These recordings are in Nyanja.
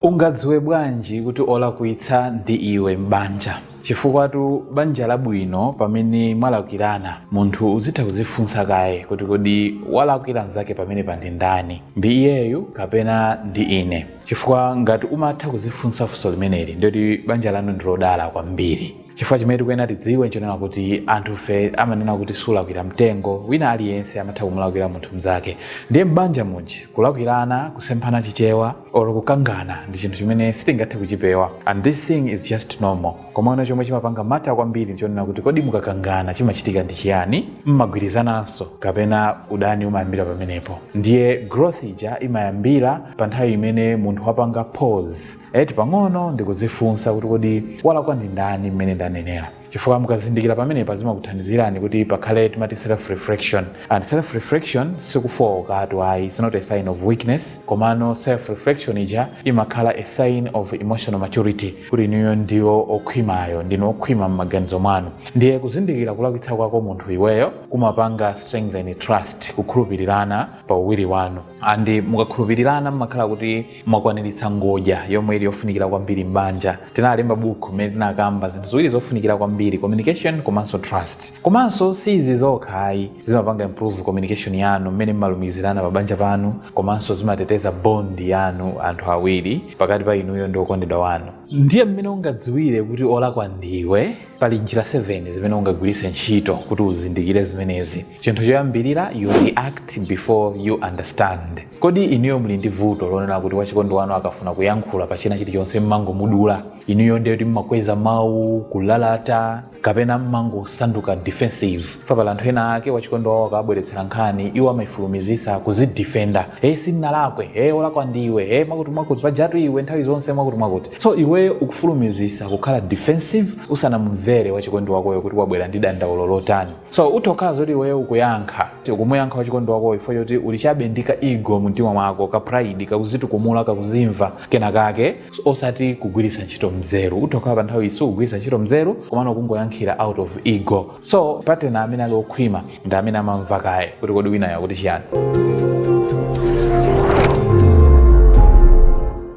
Ungadziwe bwanji kuti olakwitsa ndi iwe m'banja? Chifukwatu banja labwino pamene mwalakwirana munthu uzitha kuzifunsa kaye kuti kodi walakwira nzake pamenepa ndi ndani? Ndi iyeyu kapena ndi ine? Chifukwa ngati umatha kuzifunsa funso limeneli ndiye kuti banja lanu ndilodala kwambiri. chifukwa chimene tikuyenera tidziwe nchonena kuti anthufe amanena kuti sulakwira mtengo wina aliyense amatha kumulakwira munthu mnzake ndiye m'banja muji kulakwirana kusemphana chichewa or kukangana ndi chinthu chimene sitingathe kuchipewa and this thing is just normal komano chomwe chimapanga matter kwambiri nchonena kuti kodi mukakangana chimachitika ndi chiyani mmagwirizananso kapena udani umayambira pamenepo ndiye growth ija imayambira pa nthawi imene munthu wapanga pause Eti pang'ono ndikudzifunsa kuti kodi walakwa ndi ndani mmene ndanenera chifukwa mukazindikira pamenepa zimakuthandizirani kuti pakhale timati self reflection and self reflection sikufookatu ayi it's not a sign of weakness komano self reflection ija imakhala a sign of emotional maturity kuti inuyo ndinu okhwimayo ndinu okhwima m'maganizo mwanu ndiye kuzindikira kulakwitsa kwako munthu iweyo kumapanga strengthen trust kukhulupirirana pa uwiri wanu and mukakhulupirirana mmakhala kuti mwakwaniritsa ngodya yomwe ili yofunikira kwambiri m'banja tinalemba buku mmene tinakamba zinthu ziwiri zofunikira kwambiri communication komanso trust komanso si izi zokha ayi zimapanga improve communication yanu mmene mmalumikizirana pa banja panu komanso zimateteza bond yanu anthu awiri pakati pa inuyo ndi okondedwa wanu ndiye mmene ungadziwire kuti olakwa ndiwe pali njira 7 zimene ungagwiritse ntchito kuti uzindikire zimenezi chinthu choyambirira you react before you understand kodi inuyo muli ndi vuto lonena kuti wachikondi wanu akafuna kuyankhula pa china chilichonse mmangomudula inuyo ndiye kuti mmakweza mawu kulalata kapena mmangosanduka defensive chifukwa pali anthu ena ake wachikondi wawo akawabweretsera nkhani iwo amaifulumizisa kuzidefenda e sinnalakwe e olakwa ndiwe e mwakuti mwakuti pajatu iwe nthawi zonse mwakuti mwakuti so iweyo ukufulumizisa kukhala defensive usanamumvere wachikondi wakoyo kuti wabwera ndi dandaulo lotani so utha kukhala zoti iweyo ukuyankha ukumuyankha wachikondi wakoyo chifukwa choti uli chabe ndi ka ego mumtima mwako ka pride kakuzitukumula kakuzimva kena kake osati kugwiritsa ntchito mzeru utha kukhala pa nthawi iyo usakugwiritsa ntchito mzeru komano kungoyankhira out of ego so partner amene ali okhwima ndi amene amamva kaye kuti kodi winayo akuti chiyani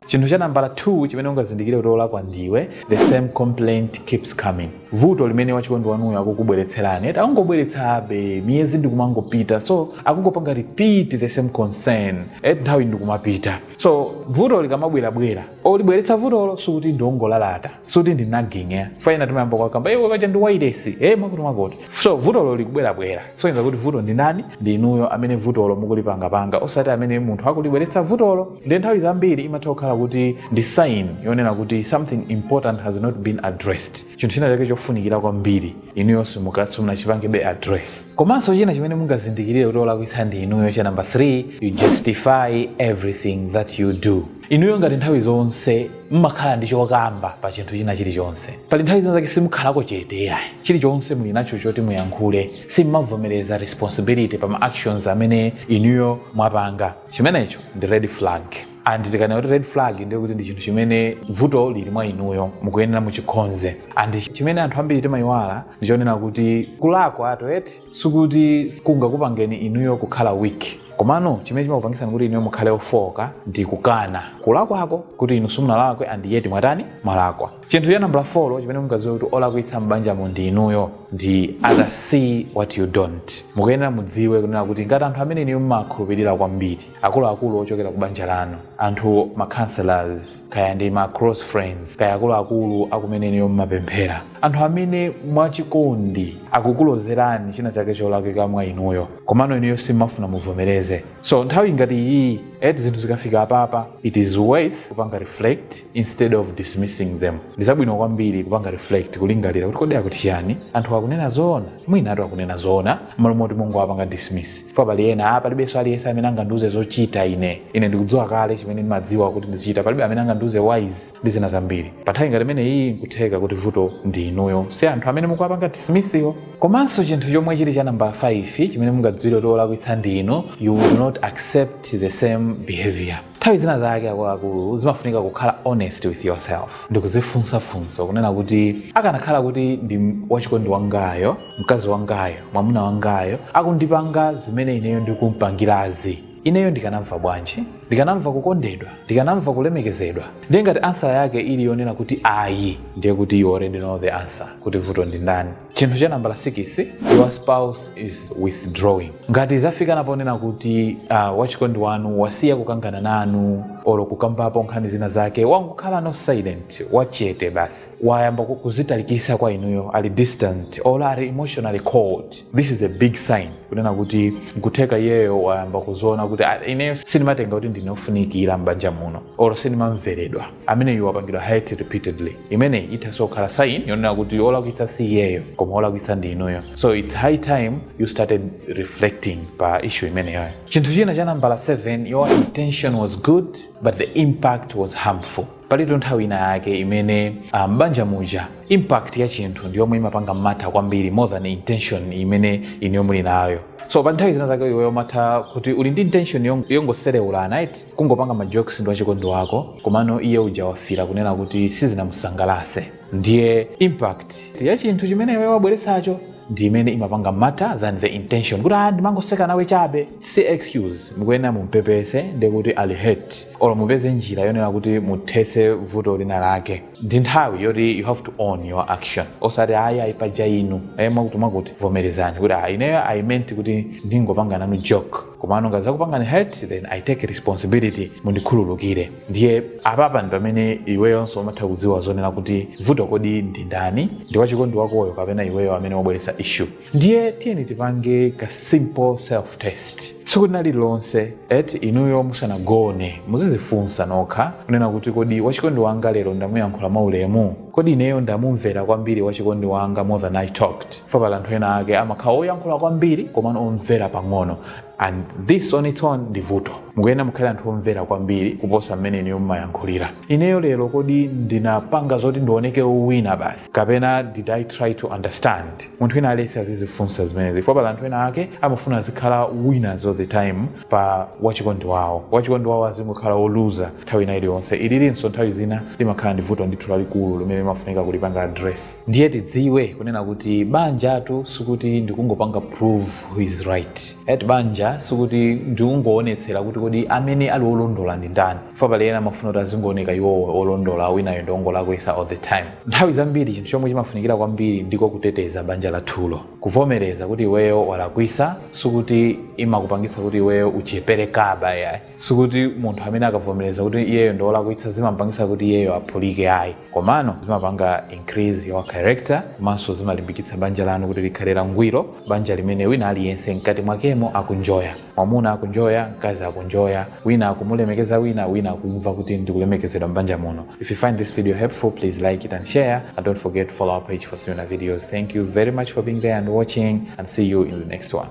chinthu cha nambala 2 chimene ungazindikire kuti olakwa ndiwe the same complaint keeps coming vuto limene wachikondi wanuyo akukubweretserani eti akungobweretsabe miyezi ndikumangopita so akungopanga repeat the same concern eti nthawi ndikumapita so vuto likamabwerabwera olibweretsa vutolo sikuti ndiongolalata sikuti ndi nagging ya fana timayamba kwakamba iwe paja ndi wailesi e mwakuti mwakuti so vutolo likubwerabwera soyenza kuti vuto ndi nani ndi inuyo amene vutolo mukulipangapanga osati amene munthu akulibweretsa vutolo ndi nthawi zambiri imatha kukhala kuti ndi sign yonena kuti something important has not been addressed chinthu china chake chofunikira kwambiri inuyo simukatsi munachipange bwanji address Komanso china chimene mungazindikirire kuti olakwitsa ndi inuyo cha number 3, you justify everything that you do. Inuyo ngati nthawi zonse mmakhala ndi chokamba pa chinthu china chilichonse. Pali nthawi zina zake simukhalako chete yayi. Chilichonse muli nacho choti muyankhule. Simmavomereza responsibility pa ma actions amene inuyo mwapanga. Chimenecho ndi red flag. and tikanena kuti red flag ndiye kuti ndi chinthu chimene vuto lili mwa inuyo mukuyenera muchikonze and chimene anthu ambiri timayiwala ndichonena kuti kulakwa ato eti sikuti kungakupangeni inuyo kukhala weak komano chimene chimakupangisani kuti inuyo mukhale ofooka ndi kukana kulakwako kuti inu simunalakwe and yet mwatani mwalakwa chinthu cha nambala 4 chimene mungadziwire kuti olakwitsa m'banjamo ndi inuyo ndi others see what you don't mukuyenera mudziwe kunena kuti ngati anthu amene inuyo mumakhulupirira kwambiri akuluakulu ochokera ku banja lanu anthu ma counselors kaya ndi ma close friends kaya akuluakulu akumene inuyo mmapemphera anthu amene mwachikondi akukulozerani china chake cholakwika mwa inuyo komano inuyo simmafuna muvomereze so nthawi ngati iyi eti zinthu zikafika apapa it is worth kupanga reflect instead of dismissing them ndi zabwino kwambiri kupanga reflect kulingalira kuti kodi akuti chani anthu akunena zoona mwinatu akunena zoona m'malo moti mungowapanga dismiss pa pali ena a palibenso aliyense amene angandiuze zochita ine ine ndikudziwa kale chimene ndimadziwa kuti ndizichita palibe amene angandiuze wise ndi zina zambiri pa nthawi ngati imene iyi nkutheka kuti vuto ndi inuyo si anthu amene mukuwapanga dismissiwo komanso chinthu chomwe chili cha namba 5 chimene mungadziwire kuti olakwitsa ndi inu you will not accept the same behavior nthawi zina zake akuluakulu zimafunika kukhala honest with yourself ndikuzifunsa funso kunena kuti akanakhala kuti ndi wachikondi wangayo mkazi wangayo mwamuna wangayo akundipanga zimene ineyo ndikumpangirazi ineyo ndikanamva bwanji ndikanamva kukondedwa ndikanamva kulemekezedwa ndiye ngati answer yake ili yonena kuti ayi ndiye kuti you already know the answer kuti vuto ndi ndani chinthu cha nambala 6 your spouse is withdrawing ngati zafikano ponena kuti uh, wachikondi wanu wasiya kukangana nanu olo kukambapo nkhani zina zake wangokhalano silent wachete basi wayamba ku- kuzitalikisa kwa inuyo ali distant or ali emotionally cold this is a big sign kunena kuti nkutheka iyeyo wayamba kuziona kuti "Ah, ineyo sindimatengedwa kuti ndine ofunikira m'banja muno or sindimamveredwa ameneyu wapangidwa hurt repeatedly imeneyi ithaso kukhala sign yonena kuti olakwitsa si iyeyo koma olakwitsa ndi inuyo so its high time you started reflecting pa issue imeneyoyo chinthu china cha nambala 7 your intention was good but the impact was harmful palitu nthawi ina yake imene ah, m'banja muja impact ya chinthu ndi yomwe imapanga matter kwambiri more than intention imene inuyo muli nayo so pa nthawi zina zake iweyo umatha kuti uli ndi intention yong- yongosereulana eti Kungopanga ma jokes ndi wachikondi wako komano iye uja wafila kunena kuti sizinamusangalatse ndiye impact ya chinthu chimene iwe wabweretsacho ndi imene imapanga matter than the intention kuti ah ndimangoseka nawe chabe si excuse mukuyenera mumpepese ndiye kuti ali hurt or mupeze njira yonena kuti muthetse vuto lina lake ndi nthawi yoti you have to own your action osati ayi ayi paja inu ayi mwakuti mwakuti vomerezani kuti ah ineyo i meant kuti ndingopanga nanu joke komano ngati zakupangani hurt then i take responsibility mundikhululukire ndiye apapa ndi pamene iweyonso umatha kudziwa zonena kuti vuto kodi ndi ndani ndi wachikondi wakoyo kapena iweyo amene wabweretsa issue ndiye tiyeni tipange ka simple self test tsiku lina lililonse eti inuyo musanagone muzizifunsa nokha kunena kuti kodi wachikondi wanga lero ndamuyankhula mwaulemu kodi ineyo ndamumvera kwambiri wachikondi wanga more than i talked chifukwa pali anthu ena ake amakhala oyankhula kwambiri komano omvera pang'ono and this on its own ndi vuto mukuyenera mukhale anthu omvera kwambiri kuposa mmene inuyo mumayankhulira ineyo lero kodi ndinapanga zoti ndioneke wina basi kapena did i try to understand munthu wina aliyense azizifunsa zimenezi chifukwa pali anthu ena ake amafuna azikhala winners all the time pa wachikondi wawo wachikondi wawo azingokhala woluza nthawi ina iliyonse ililinso nthawi zina limakhala vuto ndithu lalikulu limene limafunika kulipanga address ndiye tidziwe kunena kuti banjatu sikuti ndikungopanga prove who is right eti banja sikuti ndikungoonetsera kuti kodi amene ali olondola ndi ndani ifa pali ena amafuna kuti azingooneka iwowo olondola winayo ndi wongolakwisa all the time nthawi zambiri chinthu chomwe chimafunikira kwambiri ndiko kuteteza banja lathulo kuvomereza kuti iweyo walakwisa sikuti imakupangisa kuti iweyo uchepere kaya ayi sikuti munthu amene akavomereza kuti iyeyo ndi olakwitsa zimampangisa kuti iyeyo aphulike ayi komano zimapanga increase your character komanso zimalimbikitsa banja lanu kuti likhale langwiro banja limene wina aliyense mkati mwakemo akuenjoya mwamuna akuenjoya mkazi akuenjoya wina akumulemekeza wina wina akumva kuti ndikulemekezedwa m'banja muno if you find this video helpful please like it and share and don't forget to follow our page for similar videos thank you very much for being there and watching and see you in the next one